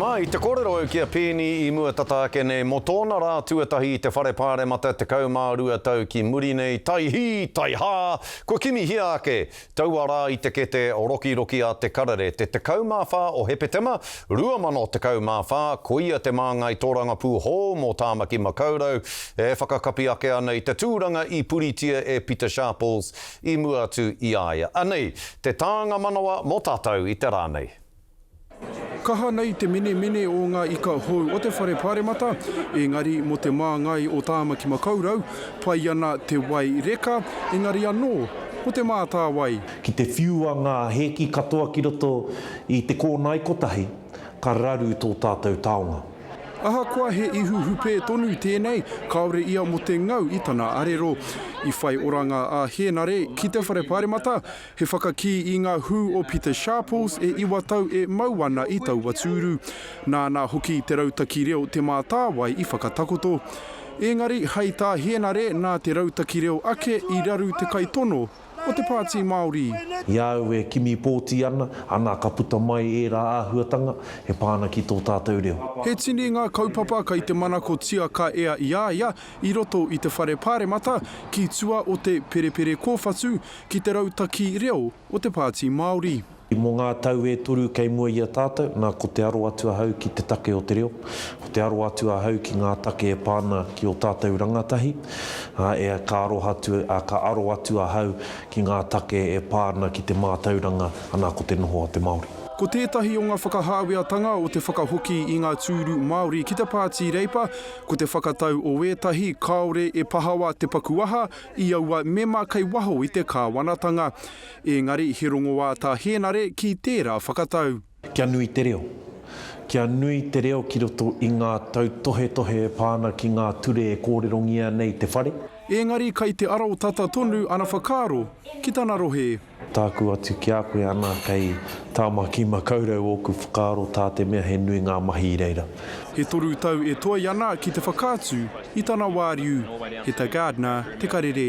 Mā, i te kōrero au ki a Peeni i mua tata ake nei, mō tōna rā tuatahi i te Whare Pāremata tekau mā rua tau ki muri nei, tai hī, tai hā, kua kimihia ake, taua rā i te kete rokiroki a Te Karere, te 14 o Hepetema, 2014, koia te māngai tōrangapū hou mō Tāmaki Makaurau, e whakakapi ake ana i te tūranga i puritia e Pita Sharples i mua atu i a ia. Anei te tānga manawa mō tātou i te rā nei. Kaha nei te menemene o ngā ika hou o te Whare Pāremata, engari mō te māngai o Tāmaki Makaurau, pai ana te wai reka, engari anō, ko te mātāwai. Ki te whiua ngā hēki katoa ki roto i te kōnae kotahi, ka raru tō tātou taonga. Ahakoa he ihu hupē tonu tēnei, kāore ia mō te ngau i tana arero. I whai oranga a Hēnare ki te Whare Pāremata, He whakakī i ngā hū o Peter Sharples e iwa tau e mau ana i taua tūru. Nāna hoki te rautaki reo Te Mātāwai i whakatakoto. Ēngari, hai tā Hēnare nā te rautaki reo ake i raru te kaitono o te Pāti Māori. I a au e kimi pōti ana, ana ka puta mai ērā āhuatanga e pā ana ki tō tātou reo. He tini ngā kaupapa kei te manakotia ka ea i a ia i roto i te Whare Pāremata ki tua o te Perepere Kōwhatu, ki te rautaki reo o te Pāti Māori. Mō ngā tau e toru kei mua i a tātou, nā, ko te aro atu ahau ki te take o te reo, ko te aro atu ahau ki ngā take e pā ana ki ō tātou rangatahi, ā, e, ka aroha atu, ā, ka aro atu ahau ki ngā take e pā ana ki te mātauranga, anā, ko te noho a te Māori. Ko tētahi o ngā whakahāweatanga o te whakahoki i ngā tūru Māori ki te Pāti Reipa, ko te whakatau o ētahi kāore e pahawa te paku aha i aua mema kei waho i te kāwanatanga, ēngari he rongoā tā Hēnare ki tērā whakatau. Kia nui te reo. Kia nui te reo ki roto i ngā tautohetohe e pā ana ki ngā ture e kōrerongia nei te whare. Ēngari kei te arotata tonu ana whakaaro ki tana rohe. Tāku atu ki a koe ana kei Tāmaki Makaurau ōku whakaaro tā te mea he nui ngā mahi i reira. E toru tau e toe ana ki te whakaatu i tana wāriu, he ta Gardner te karere.